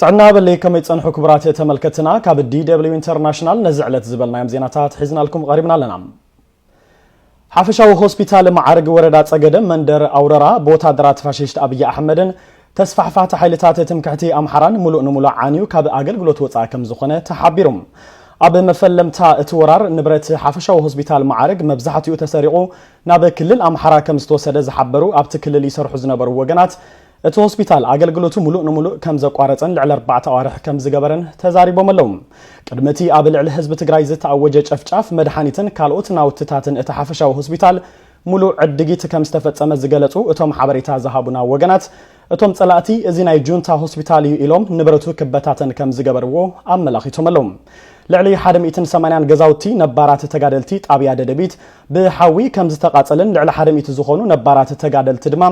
ጥዕና ሃበለይ ከመይ ትጸንሑ ክቡራት ተመልከትና ካብ DW ኢንተርናሽናል ነዚ ዕለት ዝበልናዮም ዜናታት ሒዝናልኩም ቐሪብና ኣለና። ሓፈሻዊ ሆስፒታል መዓርግ ወረዳ ጸገደ መንደር ኣውረራ ብወታደራት ፋሽስት ኣብይ ኣሕመድን ተስፋሕፋሕቲ ሓይልታት ትምክሕቲ ኣምሓራን ምሉእ ንሙሉእ ዓንዩ ካብ ኣገልግሎት ወጻኢ ከም ዝኾነ ተሓቢሩ። ኣብ መፈለምታ እቲ ወራር ንብረት ሓፈሻዊ ሆስፒታል መዓርግ መብዛሕትኡ ተሰሪቑ ናብ ክልል ኣምሓራ ከም ዝተወሰደ ዝሓበሩ ኣብቲ ክልል ይሰርሑ ዝነበሩ ወገናት እቲ ሆስፒታል ኣገልግሎቱ ሙሉእ ንሙሉእ ከምዘቋረፀን ልዕሊ ኣርባዕተ ኣዋርሕ ከምዝገበረን ተዛሪቦም ኣለው። ቅድሚ እቲ ኣብ ልዕሊ ህዝቢ ትግራይ ዝተኣወጀ ጨፍጫፍ መድሓኒትን ካልኦት ናውትታትን እቲ ሓፈሻዊ ሆስፒታል ሙሉእ ዕድጊት ከምዝተፈፀመ ዝገለፁ እቶም ሓበሬታ ዝሃቡና ወገናት እቶም ፀላእቲ እዚ ናይ ጁንታ ሆስፒታል እዩ ኢሎም ንብረቱ ክበታተን ከምዝገበርዎ ኣመላኺቶም ኣለው። ልዕሊ ሓደ ሚእትን ሰማንያን ገዛውቲ ነባራት ተጋደልቲ ጣብያ ደደቢት ብሓዊ ከምዝተቓፀለን ልዕሊ ሓደ ሚእቲ ዝኾኑ ነባራት ተጋደልቲ ድማ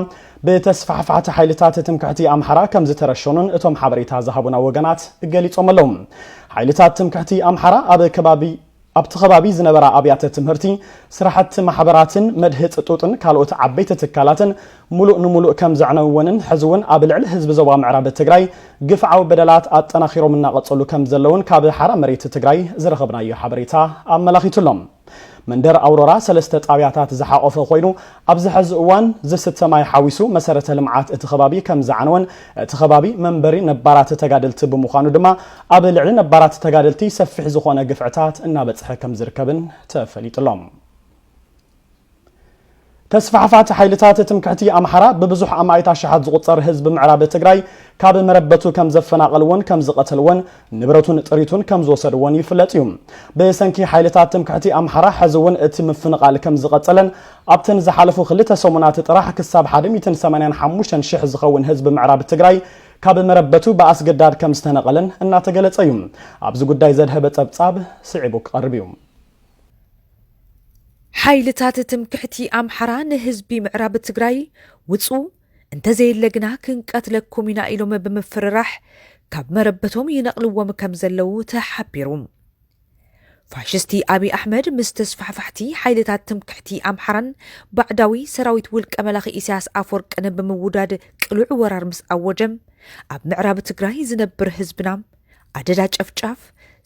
ብተስፋሕፋሕቲ ሓይልታት ትምክሕቲ ኣምሓራ ከምዝተረሸኑን እቶም ሓበሬታ ዝሃቡና ወገናት ገሊፆም ኣለው። ሓይልታት ትምክሕቲ ኣምሓራ ኣብ ከባቢ ኣብቲ ከባቢ ዝነበራ ኣብያተ ትምህርቲ፣ ስራሕቲ ማሕበራትን መድህፅ ጡጥን ካልኦት ዓበይቲ ትካላትን ሙሉእ ንሙሉእ ከምዘዕነውወንን ሕዚ እውን ኣብ ልዕሊ ህዝቢ ዞባ ምዕራብ ትግራይ ግፍዓዊ በደላት ኣጠናኺሮም እናቐፀሉ ከምዘለውን ካብ ሓራ መሬት ትግራይ ዝረኸብናዮ ሓበሬታ ኣመላኺቱ ኣሎ። መንደር ኣውሮራ ሰለስተ ጣብያታት ዝሓቖፈ ኮይኑ ኣብዚ ሐዚ እዋን ዝስተ ማይ ሓዊሱ መሰረተ ልምዓት እቲ ከባቢ ከምዝዓነወን እቲ ከባቢ መንበሪ ነባራት ተጋደልቲ ብምዃኑ ድማ ኣብ ልዕሊ ነባራት ተጋደልቲ ሰፊሕ ዝኾነ ግፍዕታት እናበፅሐ ከምዝርከብን ተፈሊጡ'ሎ። ተስፋሕፋቲ ሓይልታት ትምክሕቲ ኣምሓራ ብብዙሕ ኣማኢት ኣሽሓት ዝቑፀር ህዝቢ ምዕራብ ትግራይ ካብ መረበቱ ከምዘፈናቐልዎን ከምዝቐተልዎን ንብረቱን ጥሪቱን ከም ዝወሰድዎን ይፍለጥ እዩ። ብሰንኪ ሓይልታት ትምክሕቲ ኣምሓራ ሕዚ እውን እቲ ምፍንቓል ከም ዝቐፀለን ኣብተን ዝሓለፉ ክልተ ሰሙናት ጥራሕ ክሳብ ሓደ ሚእትን ሰማንያን ሓሙሽተን ሽሕ ዝኸውን ህዝቢ ምዕራብ ትግራይ ካብ መረበቱ ብኣስገዳድ ከም ዝተነቐለን እናተገለፀ እዩ። ኣብዚ ጉዳይ ዘድሀበ ፀብፃብ ስዒቡ ክቐርብ እዩ። ሓይልታት ትምክሕቲ ኣምሓራ ንህዝቢ ምዕራብ ትግራይ ውፁ፣ እንተዘየለ ግና ክንቀትለኩም ኢና ኢሎም ብምፍርራሕ ካብ መረበቶም ይነቕልዎም ከምዘለዉ ተሓቢሩ። ፋሽስቲ ኣብይ ኣሕመድ ምስ ተስፋሕፋሕቲ ሓይልታት ትምክሕቲ ኣምሓራን ባዕዳዊ ሰራዊት ውልቀ መላኺ ኢሳያስ ኣፈወርቅን ብምውዳድ ቅሉዕ ወራር ምስ ኣወጀ ኣብ ምዕራብ ትግራይ ዝነብር ህዝብና ኣደዳ ጨፍጫፍ፣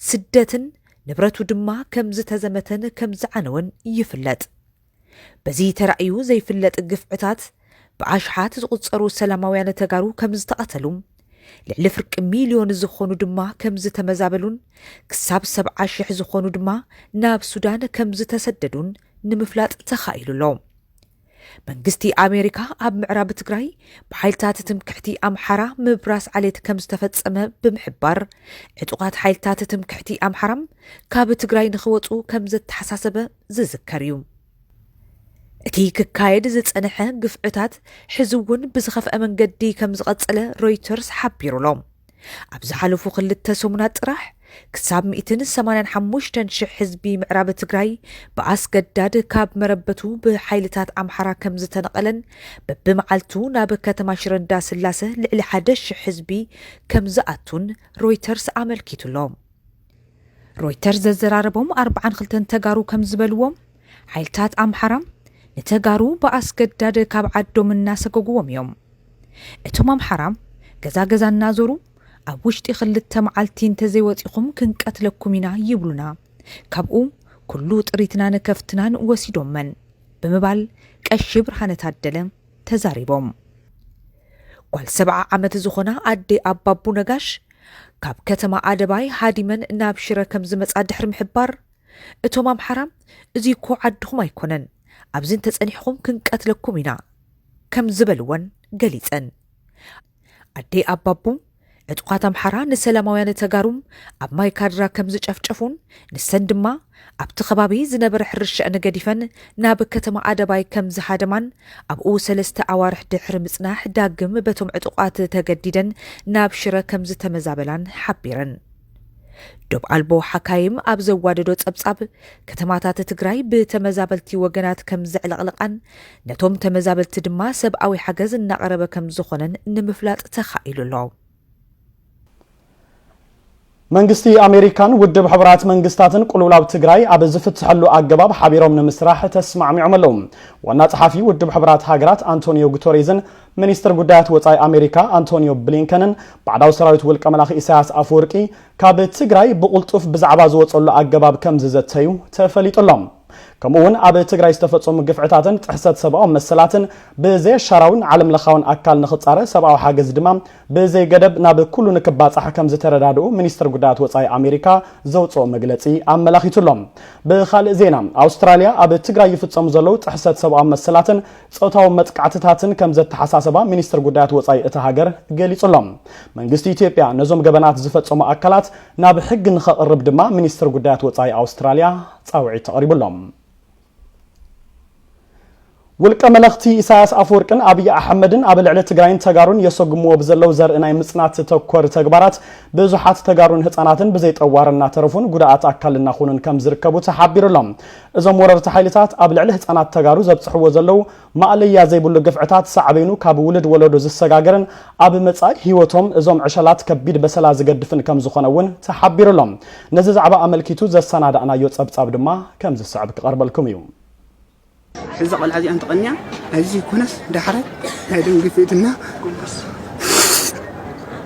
ስደትን ንብረቱ ድማ ከምዝተዘመተን ከምዝዓነወን ይፍለጥ። በዚ ተራእዩ ዘይፍለጥ ግፍዕታት ብኣሽሓት ዝቑጸሩ ሰላማውያን ተጋሩ ከም ዝተቐተሉ፣ ልዕሊ ፍርቂ ሚልዮን ዝኾኑ ድማ ከም ዝተመዛበሉን ክሳብ ሰብዓ ሽሕ ዝኾኑ ድማ ናብ ሱዳን ከም ዝተሰደዱን ንምፍላጥ ተኻኢሉ ኣሎ። መንግስቲ ኣሜሪካ ኣብ ምዕራብ ትግራይ ብሓይልታት ትምክሕቲ ኣምሓራ ምብራስ ዓሌት ከም ዝተፈጸመ ብምሕባር ዕጡቓት ሓይልታት ትምክሕቲ ኣምሓራ ካብ ትግራይ ንኽወፁ ከም ዘተሓሳሰበ ዝዝከር እዩ። እቲ ክካየድ ዝጸንሐ ግፍዕታት ሕዚ'ውን ብዝኸፍኣ መንገዲ ከም ዝቐጸለ ሮይተርስ ሓቢሩ'ሎ። ኣብ ዝሓለፉ ክልተ ሰሙናት ጥራሕ ክሳብ ሚእትን ሰማንያን ሓሙሽተን ሽሕ ህዝቢ ምዕራብ ትግራይ ብኣስገዳድ ካብ መረበቱ ብሓይልታት ኣምሓራ ከም ዝተነቐለን በብመዓልቱ ናብ ከተማ ሽረ እንዳስላሰ ልዕሊ ሓደ ሽሕ ህዝቢ ከም ዝኣቱን ሮይተርስ ኣመልኪቱ'ሎ። ሮይተርስ ዘዘራረቦም ኣርብዓን ክልተን ተጋሩ ከም ዝበልዎም፣ ሓይልታት ኣምሓራ ንተጋሩ ብኣስገዳድ ካብ ዓዶም እናሰጎጉዎም እዮም። እቶም ኣምሓራ ገዛ ገዛ እናዞሩ ኣብ ውሽጢ ክልተ መዓልቲ እንተዘይወጺኹም ክንቀትለኩም ኢና ይብሉና፣ ካብኡ ኩሉ ጥሪትናን ከፍትናን ወሲዶመን ብምባል ቀሺ ብርሃነ ታደለ፣ ተዛሪቦም። ጓል ሰብዓ ዓመት ዝኾና ኣዴ ኣባቡ ነጋሽ፣ ካብ ከተማ ኣደባይ ሃዲመን ናብ ሽረ ከም ዝመጻ ድሕሪ ምሕባር፣ እቶም ኣምሓራ እዚ'ኮ ዓድኹም ኣይኮነን፣ ኣብዚ እንተጸኒሕኹም ክንቀትለኩም ኢና ከም ዝበልወን ገሊጸን። ኣዴ ኣባቡ፣ ዕጡቓት ኣምሓራ ንሰላማውያን ተጋሩ ኣብ ማይ ካድራ ከም ዝጨፍጨፉን ንሰን ድማ ኣብቲ ከባቢ ዝነበረ ሕርሻኣን ገዲፈን ናብ ከተማ ኣደባይ ከም ዝሃደማን ኣብኡ ሰለስተ ኣዋርሕ ድሕሪ ምጽናሕ ዳግም በቶም ዕጡቓት ተገዲደን ናብ ሽረ ከም ዝተመዛበላን ሓቢረን። ዶብ ኣልቦ ሓካይም ኣብ ዘዋደዶ ጸብጻብ፣ ከተማታት ትግራይ ብተመዛበልቲ ወገናት ከም ዘዕለቕለቓን ነቶም ተመዛበልቲ ድማ ሰብኣዊ ሓገዝ እናቐረበ ከም ዝኾነን ንምፍላጥ ተኻኢሉ ኣሎ። መንግስቲ ኣሜሪካን ውድብ ሕቡራት መንግስታትን ቁልውላው ትግራይ ኣብ ዝፍትሐሉ ኣገባብ ሓቢሮም ንምስራሕ ተስማዕሚዖም ኣለዉ። ዋና ጸሓፊ ውድብ ሕቡራት ሃገራት ኣንቶኒዮ ጉተሬዝን ሚኒስትር ጉዳያት ወፃኢ ኣሜሪካ ኣንቶኒዮ ብሊንከንን ባዕዳዊ ሰራዊት ውልቀ መላኺ ኢሳያስ ኣፈወርቂ ካብ ትግራይ ብቕልጡፍ ብዛዕባ ዝወፀሉ ኣገባብ ከምዝዘተዩ ተፈሊጡ ኣሎ። ከምኡ እውን ኣብ ትግራይ ዝተፈፀሙ ግፍዕታትን ጥሕሰት ሰብኣዊ መሰላትን ብዘየሻራዊን ዓለም ለኻውን ኣካል ንክፃረ ሰብኣዊ ሓገዝ ድማ ብዘይገደብ ናብ ኩሉ ንክባፃሕ ከምዝተረዳድኡ ሚኒስትር ጉዳያት ወፃኢ ኣሜሪካ ዘውፅኦ መግለፂ ኣመላኺቱ ኣሎ። ብካልእ ዜና ኣውስትራሊያ ኣብ ትግራይ ይፍፀሙ ዘለዉ ጥሕሰት ሰብኣዊ መሰላትን ጾታዊ መጥቃዕትታትን ከም ዘተሓሳሰባ ሚኒስትር ጉዳያት ወጻኢ እታ ሃገር ገሊጹ ኣሎ። መንግስቲ ኢትዮጵያ ነዞም ገበናት ዝፈጸሙ ኣካላት ናብ ሕጊ ንኸቕርብ ድማ ሚኒስትር ጉዳያት ወጻኢ ኣውስትራልያ ጻውዒት ተቐሪቡ ኣሎ። ውልቀ መለኽቲ ኢሳያስ ኣፈወርቅን ኣብይ ኣሕመድን ኣብ ልዕሊ ትግራይን ተጋሩን የሰጉምዎ ብዘለው ዘርኢ ናይ ምጽናት ተኮር ተግባራት ብዙሓት ተጋሩን ህጻናትን ብዘይጠዋር እናተረፉን ጉዳኣት ኣካል እናኾኑን ከም ዝርከቡ ተሓቢሩሎም እዞም ወረርቲ ሓይልታት ኣብ ልዕሊ ህፃናት ተጋሩ ዘብፅሕዎ ዘለዉ ማእለያ ዘይብሉ ግፍዕታት ሳዕቤኑ ካብ ውልድ ወለዶ ዝሰጋገርን ኣብ መፃኢ ህይወቶም እዞም ዕሸላት ከቢድ በሰላ ዝገድፍን ከምዝኾነ እውን ተሓቢሩ ኣሎ። ነዚ ዛዕባ ኣመልኪቱ ዘሰናዳእናዮ ፀብፃብ ድማ ከምዝስዕብ ክቐርበልኩም እዩ። እዛ ቆልዓ እዚኣ እንተቐንያ ናይዚ ዘይኮነስ ዳሕራይ ናይ ደም ግፊት እና ጎንበስ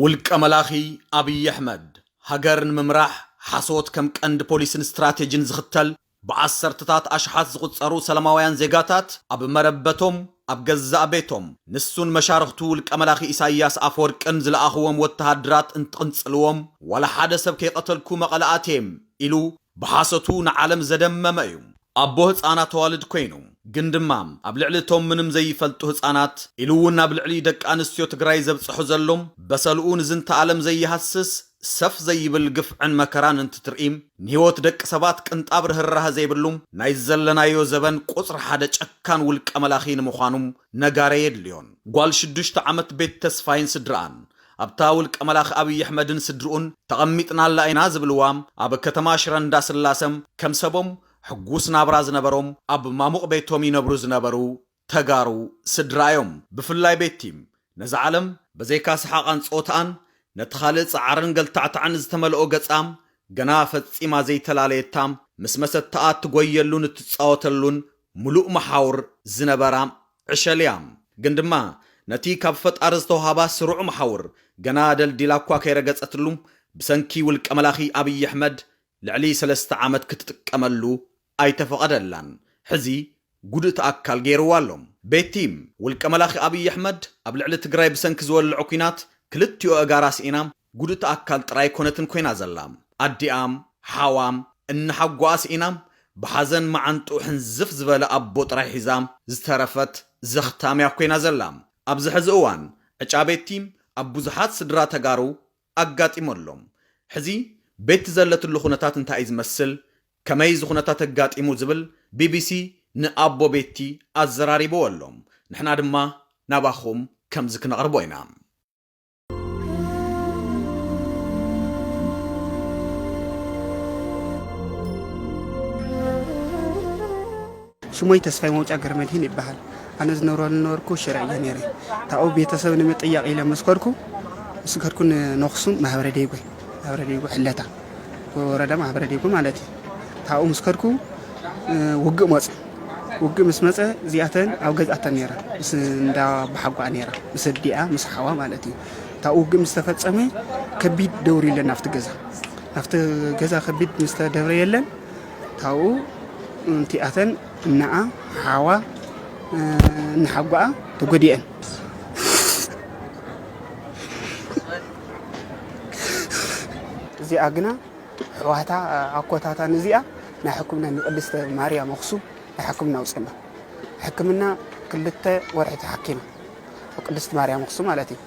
ውልቀ መላኺ ኣብይ ኣሕመድ፣ ሃገር ንምምራሕ ሓሶት ከም ቀንዲ ፖሊስን ስትራቴጂን ዝኽተል፣ ብዓሰርተታት ኣሽሓት ዝቑጸሩ ሰላማውያን ዜጋታት ኣብ መረበቶም፣ ኣብ ገዛእ ቤቶም፣ ንሱን መሻርኽቱ ውልቀ መላኺ ኢሳይያስ ኣፈወርቅን ዝለኣኽዎም ወተሃደራት እንትቕንጽልዎም፣ ዋላ ሓደ ሰብ ከይቐተልኩ መቐለ ኣትየ ኢሉ ብሓሶቱ ንዓለም ዘደመመ እዩ። ኣቦ ህጻናት ኣዋልድ ኮይኑ ግን ድማ ኣብ ልዕሊ እቶም ምንም ዘይፈልጡ ህጻናት ኢሉ እውን ኣብ ልዕሊ ደቂ ኣንስትዮ ትግራይ ዘብጸሑ ዘሎ በሰልኡ ንዝንተ ኣለም ዘይሃስስ ሰፍ ዘይብል ግፍዕን መከራን እንትትርኢ ንህይወት ደቂ ሰባት ቅንጣብ ርህራሀ ዘይብሉ ናይ ዘለናዮ ዘበን ቁጽሪ ሓደ ጨካን ውልቀ መላኺ ንምዃኑ ነጋሪ ኣየድልዮን። ጓል ሽዱሽተ ዓመት ቤት ተስፋይን ስድርኣን ኣብታ ውልቀ መላኺ ኣብይ ኣሕመድን ስድርኡን ተቐሚጥናላ ኢና ዝብልዋ ኣብ ከተማ ሽረ እንዳስላሰ ከም ሰቦም ሕጉስ ናብራ ዝነበሮም ኣብ ማሙቕ ቤቶም ይነብሩ ዝነበሩ ተጋሩ ስድራ እዮም። ብፍላይ ቤቲ ነዛ ዓለም በዘይካ ሰሓቓን ጸወታኣን ነቲ ካልእ ጻዕርን ገልታዕታዕን ዝተመልኦ ገጻ ገና ፈጺማ ዘይተላለየታ ምስ መሰተኣ እትጎየሉን እትጻወተሉን ምሉእ መሓውር ዝነበራ ዕሸል'ያ። ግን ድማ ነቲ ካብ ፈጣሪ ዝተውሃባ ስሩዕ መሓውር ገና ደልዲላ'ኳ ከይረገጸትሉ፣ ብሰንኪ ውልቀ መላኺ ኣብይ ኣሕመድ ልዕሊ ሰለስተ ዓመት ክትጥቀመሉ ኣይተፈቐደላን። ሕዚ ጉድእቲ ኣካል ገይርዋ ኣሎ። ቤቲ፣ ውልቀ መላኺ ኣብይ ኣሕመድ ኣብ ልዕሊ ትግራይ ብሰንኪ ዝወለዖ ኲናት ክልቲኡ ኣእጋራ ስኢና፣ ጉድእቲ ኣካል ጥራይ ኣይኮነትን ኮይና ዘላ። ኣዲኣም፣ ሓዋም፣ እንሓጎኣ ስኢና ብሓዘን መዓንጥኡ ሕንዝፍ ዝበለ ኣቦ ጥራይ ሒዛ ዝተረፈት ዘኽታም'ያ ኮይና ዘላ። ኣብዚ ሕዚ እዋን ዕጫ ቤቲ ኣብ ብዙሓት ስድራ ተጋሩ ኣጋጢሙ ኣሎ። ሕዚ ቤቲ ዘለትሉ ኩነታት እንታይ'ዩ ዝመስል፣ ከመይ እዚ ኩነታት ኣጋጢሙ ዝብል ቢቢሲ ንኣቦ ቤቲ ኣዘራሪብዎ ኣሎ። ንሕና ድማ ናባኹም ከምዚ ክነቕርቦ ኢና። ሽሞይ ተስፋይ መውጫ ገረመድህን ይበሃል ኣነ ዝነብረሉ ነበርኩ ሽረ እየ ነረ ታብኡ ቤተሰብ ንምጥያቕ ኢለ ምስ ከድኩ ምስ ከድኩ ንነኽሱም ማህበረ ደይጎ ማህበረ ደይጎ ሕለታ ወረዳ ማህበረ ደይጎ ማለት እዩ ካብኡ ምስ ከድኩ ውግእ መጹ። ውግእ ምስ መጸ እዚኣተን ኣብ ገዝ ኣተን ነይራ ምስ እንዳ ኣቦሓጎኣ ነይራ ምስ ኣዲኣ ምስ ሓዋ ማለት እዩ። እታ ውግእ ምስ ተፈጸመ ከቢድ ደውርዩለን ናብቲ ገዛ ናብቲ ገዛ ከቢድ ምስ ተደብረየለን ካብኡ እንቲኣተን እናኣ ሓዋ እናሓጓኣ ተጎዲኤን። እዚኣ ግና ሕዋታ ኣኮታታ ንዚኣ ናይ ሕክምና ንቅድስተ ማርያም ኣክሱም ናይ ሕክምና ኣውፅና ሕክምና ክልተ ወርሒ ተሓኪማ ቅድስት ማርያም ኣክሱም ማለት እዩ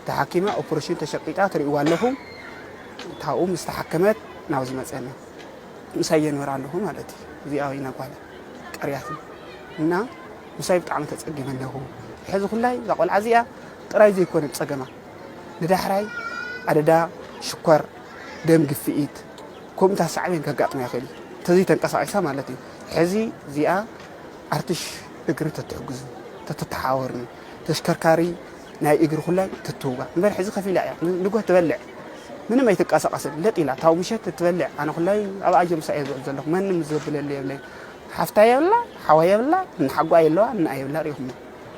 ተሓኪማ ኦፕሬሽን ተሸቂጣ ትርእዋ ኣለኹም ታብኡ ምስ ተሓከመት ናብ ዝመፀና ምሳይ የንበር ኣለኹ ማለት እዩ እዚኣ ወይና ጓለ ቀርያትና እና ምሳይ ብጣዕሚ ተፀጊመ ኣለኹ ሕዚ ኩላይ እዛ ቆልዓ እዚኣ ጥራይ ዘይኮነ ፀገማ ንዳሕራይ ኣደዳ ሽኮር፣ ደም ግፍኢት ከምኡታ ሳዕቤን ከጋጥማ ይኽእል እዩ ተዘይ ተንቀሳቂሳ ማለት እዩ ሕዚ እዚኣ ኣርትሽ እግሪ ተትሕግዙ ተትተሓወርኒ ተሽከርካሪ ናይ እግሪ ኩለን ትትውጋ እምበር ሕዚ ከፍ ኢላ እያ ንጎህ ትበልዕ ምንም ኣይትንቀሳቀስን ለጥ ኢላ ታው ምሸት ትበልዕ ኣነ ኩላይ ኣብ ኣጆ ምሳኤ ዝውዕል ዘለኹ መንም ዘብለለ የብለይ ሓፍታ የብላ ሓዋ የብላ ንሓጓ የለዋ ንኣ የብላ ሪኹሞ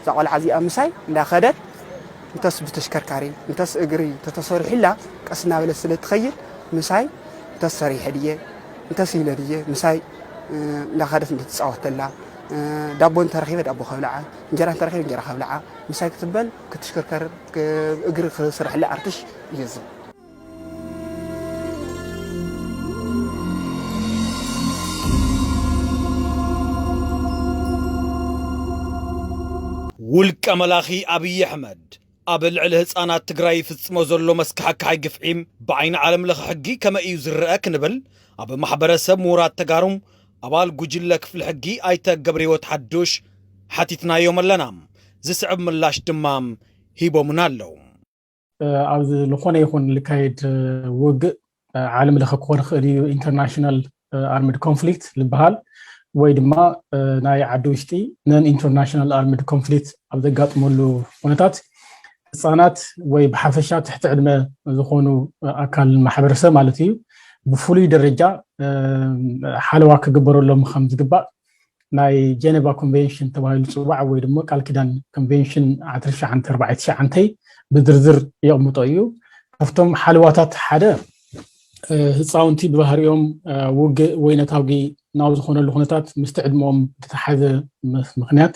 እዛ ቆልዓ እዚኣ ምሳይ እንዳ ከደት እንተስ ብተሽከርካሪ እንተስ እግሪ ተተሰሪሑላ ቀስ እናበለት ስለ ትኸይድ ምሳይ እንተስ ሰሪሐ ድየ እንተስ ኢለ ድየ ምሳይ እንዳ ከደት እንትትጻወት ተላ ዳቦ እንተረኺበ ዳቦ ከብልዓ እንጀራ እንተረኺበ እንጀራ ከብልዓ ምሳይ ክትበል ክትሽከርከር እግሪ ክስርሕላ ኣርትሽ እየ ዝብል ውልቀ መላኺ ኣብይ ኣሕመድ ኣብ ልዕሊ ህፃናት ትግራይ ይፍፅሞ ዘሎ መስካሕካሒ ግፍዒ ብዓይኒ ዓለም ለኸ ሕጊ ከመይ እዩ ዝረአ ክንብል ኣብ ማሕበረሰብ ምሁራት ተጋሩ ኣባል ጉጅለ ክፍሊ ሕጊ ኣይተ ገብረህይወት ሓዱሽ ሓቲትናዮም ኣለና። ዝስዕብ ምላሽ ድማ ሂቦምና ኣለዉ። ኣብ ዝኾነ ይኹን ልካየድ ውግእ ዓለም ለኸ ክኾን ይኽእል እዩ ኢንተርናሽናል ኣርምድ ኮንፍሊክት ዝበሃል ወይ ድማ ናይ ዓዲ ውሽጢ ነን ኢንተርናሽናል ኣርምድ ኮንፍሊክት ኣብ ዘጋጥመሉ ኩነታት ህፃናት ወይ ብሓፈሻ ትሕቲ ዕድመ ዝኾኑ ኣካል ማሕበረሰብ ማለት እዩ ብፍሉይ ደረጃ ሓለዋ ክግበረሎም ከም ዝግባእ ናይ ጀነቫ ኮንቨንሽን ተባሂሉ ዝፅዋዕ ወይ ድማ ቃል ኪዳን ኮንቨንሽን ዓስርተ ትሽዓተ ኣርባዕተ ትሽዓተ ብዝርዝር የቕምጦ እዩ ካብቶም ሓለዋታት ሓደ ህፃውንቲ ብባህሪኦም ውግእ ወይ ነታውጊ ናብ ዝኾነሉ ኩነታት ምስቲ ዕድመኦም ዝተሓዘ ምክንያት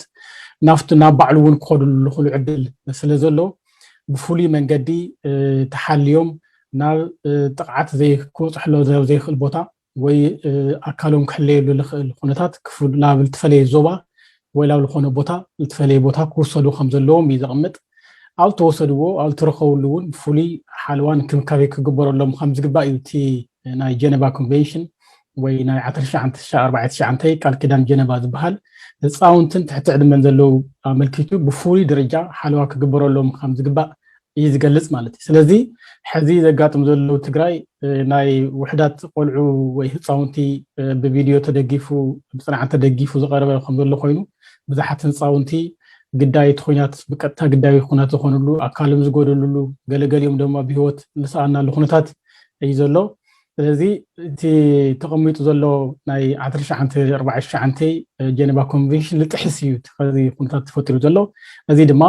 ናብቲ ናብ ባዕሉ እውን ክኸዱሉ ዝኽእሉ ዕድል ስለ ዘሎ ብፍሉይ መንገዲ ተሓልዮም ናብ ጥቕዓት ክበፅሕሎ ዘይኽእል ቦታ ወይ ኣካሎም ክሕለየሉ ልኽእል ኩነታት ናብ ልትፈለየ ዞባ ወይ ላብ ልኾነ ቦታ ልትፈለየ ቦታ ክውሰዱ ከም ዘለዎም እዩ ዘቕምጥ። ኣብ ልተወሰድዎ ኣብ ልትረኸብሉ እውን ፍሉይ ሓልዋን እንክብካቤ ክግበረሎም ከም ዝግባእ እዩ እቲ ናይ ጀነቫ ኮንቬንሽን ወይ ናይ ዓሰርተ ትሽዓተ ትሽዓተ ኣርባዕተ ትሽዓተ ቃል ኪዳን ጀነቫ ዝበሃል ህፃውንትን ትሕቲ ዕድመን ዘለዉ ኣመልኪቱ ብፍሉይ ደረጃ ሓለዋ ክግበረሎም ከም ዝግባእ እዩ ዝገልፅ ማለት እዩ። ስለዚ ሕዚ ዘጋጥም ዘሎ ትግራይ ናይ ውሕዳት ቆልዑ ወይ ህፃውንቲ ብቪድዮ ተደጊፉ ብፅንዓት ተደጊፉ ዝቐረበ ከም ዘሎ ኮይኑ ብዙሓት ህፃውንቲ ግዳይ እቲ ኩናት ብቀጥታ ግዳይ ኩናት ዝኾንሉ ኣካልም ዝጎደልሉ ገለገሊኦም ድማ ብሂወት ዝሰኣናሉ ኩነታት እዩ ዘሎ። ስለዚ እቲ ተቐሚጡ ዘሎ ናይ ዓሰርተ ትሽዓንተ ኣርባዕተ ትሽዓንተ ጀነቫ ኮንቨንሽን ዝጥሕስ እዩ እቲ ከዚ ኩነታት ተፈጢሩ ዘሎ እዚ ድማ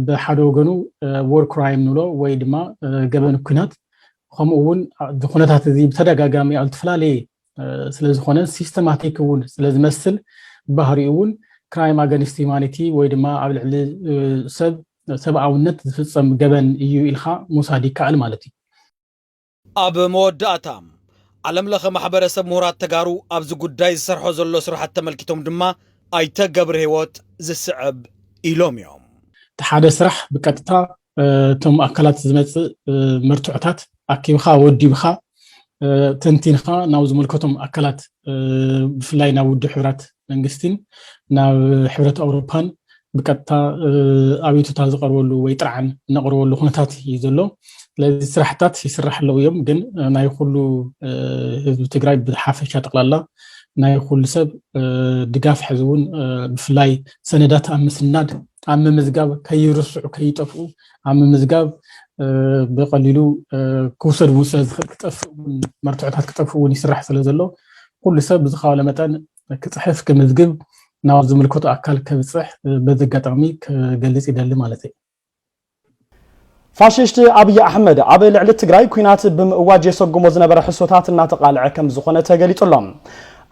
ብሓደ ወገኑ ዎር ክራይም ንብሎ ወይ ድማ ገበን ኩናት ከምኡ እውን እዚ ኩነታት እዚ ብተደጋጋሚ ኣብ ዝተፈላለየ ስለ ዝኾነ ሲስተማቲክ እውን ስለ ዝመስል ባህሪኡ እውን ክራይም ኣገንስት ዩማኒቲ ወይ ድማ ኣብ ልዕሊ ሰብ ሰብኣውነት ዝፍፀም ገበን እዩ ኢልካ ምውሳድ ይከኣል ማለት እዩ ኣብ መወዳእታ፣ ዓለም ለኸ ማሕበረሰብ ምሁራት ተጋሩ ኣብዚ ጉዳይ ዝሰርሖ ዘሎ ስራሕቲ ተመልኪቶም ድማ ኣይተ ገብርሂወት ዝስዕብ ኢሎም እዮም። እቲ ሓደ ስራሕ ብቀጥታ እቶም ኣካላት ዝመፅእ መርትዖታት ኣኪብኻ ወዲብኻ ተንቲንኻ ናብ ዝምልከቶም ኣካላት ብፍላይ ናብ ውድብ ሕብራት መንግስቲን ናብ ሕብረት ኣውሮፓን ብቀጥታ ኣቤቱታ ዝቀርበሉ ወይ ጥርዓን እነቅርበሉ ኩነታት እዩ ዘሎ ስለዚ ስራሕታት ይስራሕ ኣለው እዮም ግን ናይ ኩሉ ህዝቢ ትግራይ ብሓፈሻ ጠቅላላ ናይ ኩሉ ሰብ ድጋፍ ሕዚ እውን ብፍላይ ሰነዳት ኣብ ምስናድ ኣብ ምምዝጋብ ከይርስዑ ከይጠፍኡ ኣብ ምምዝጋብ ብቀሊሉ ክውሰድ እውን ስለዝኽእል ክጠፍእ እውን መርትዖታት ክጠፍእ እውን ይስራሕ ስለ ዘሎ ኩሉ ሰብ ብዝኻኣሎ መጠን ክፅሕፍ ክምዝግብ ናብ ዝምልከቶ ኣካል ከብፅሕ በዚ ኣጋጣሚ ክገልፅ ይደሊ ማለተይ። ፋሽስት ኣብይ ኣሕመድ ኣብ ልዕሊ ትግራይ ኲናት ብምእዋጅ የሰጉሞ ዝነበረ ሕሶታት እናተቓልዐ ከምዝኾነ ተገሊፁ ኣሎ።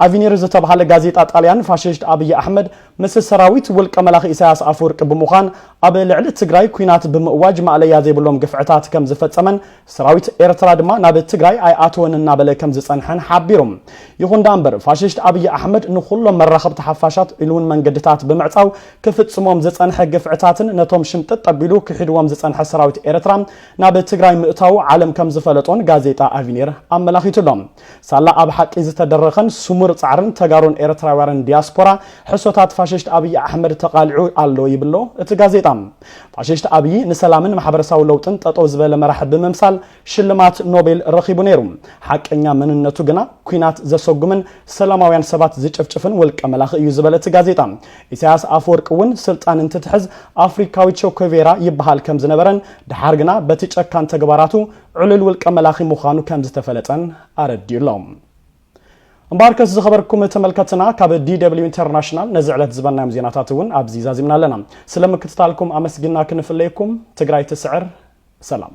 ኣቪኒር ዝተብሃለ ጋዜጣ ጣልያን ፋሽስት ኣብይ ኣሕመድ ምስ ሰራዊት ውልቀ መላኺ ኢሳያስ ኣፈወርቂ ብምዃን ኣብ ልዕሊ ትግራይ ኲናት ብምእዋጅ ማእለያ ዘይብሎም ግፍዕታት ከምዝፈፀመን ሰራዊት ኤርትራ ድማ ናብ ትግራይ ኣይኣተወን እናበለ ከምዝጸንሐን ሓቢሩ። ይኹን ደኣ እምበር ፋሽስት ኣብይ ኣሕመድ ንኹሎም መራኸብቲ ሓፋሻት ኢሉውን መንገድታት ብምዕጻው ክፍጽሞም ዝጸንሐ ግፍዕታትን ነቶም ሽምጥጥ ኣቢሉ ክሒድዎም ዝጸንሐ ሰራዊት ኤርትራ ናብ ትግራይ ምእታዉ ዓለም ከምዝፈለጦን ጋዜጣ ኣቪኒር ኣመላኺቱ ኣሎ። ሳላ ኣብ ሓቂ ዝተደረኸን ስሙር ጻዕርን ተጋሩን ኤርትራውያርን ዲያስፖራ ሕሶታት ፋሽስት ኣብይ ኣሕመድ ተቓሊዑ ኣሎ ይብሎ እቲ ጋዜጣ። ፋሽስት ኣብዪ ንሰላምን ማሕበረሳዊ ለውጥን ጠጠው ዝበለ መራሒ ብምምሳል ሽልማት ኖቤል ረኺቡ ነይሩ። ሓቀኛ መንነቱ ግና ኲናት ዘሰጉምን ሰላማውያን ሰባት ዝጭፍጭፍን ውልቀ መላኺ እዩ ዝበለ እቲ ጋዜጣ፣ ኢሳያስ ኣፈወርቂ እውን ስልጣን እንትትሕዝ ኣፍሪካዊ ቸኮቬራ ይበሃል ከምዝነበረን ደሓር ግና በቲ ጨካን ተግባራቱ ዕሉል ውልቀ መላኺ ምዃኑ ከምዝተፈለጠን ኣረዲኡ ኣሎ። እምበኣርከስ ዝኸበርኩም ተመልከትና ካብ ዲደብሊው ኢንተርናሽናል ነዚ ዕለት ዝበናዮም ዜናታት እውን ኣብዚ ዛዚምና ኣለና። ስለ ምክትታልኩም ኣመስግና ክንፍለየኩም ትግራይ ትስዕር ሰላም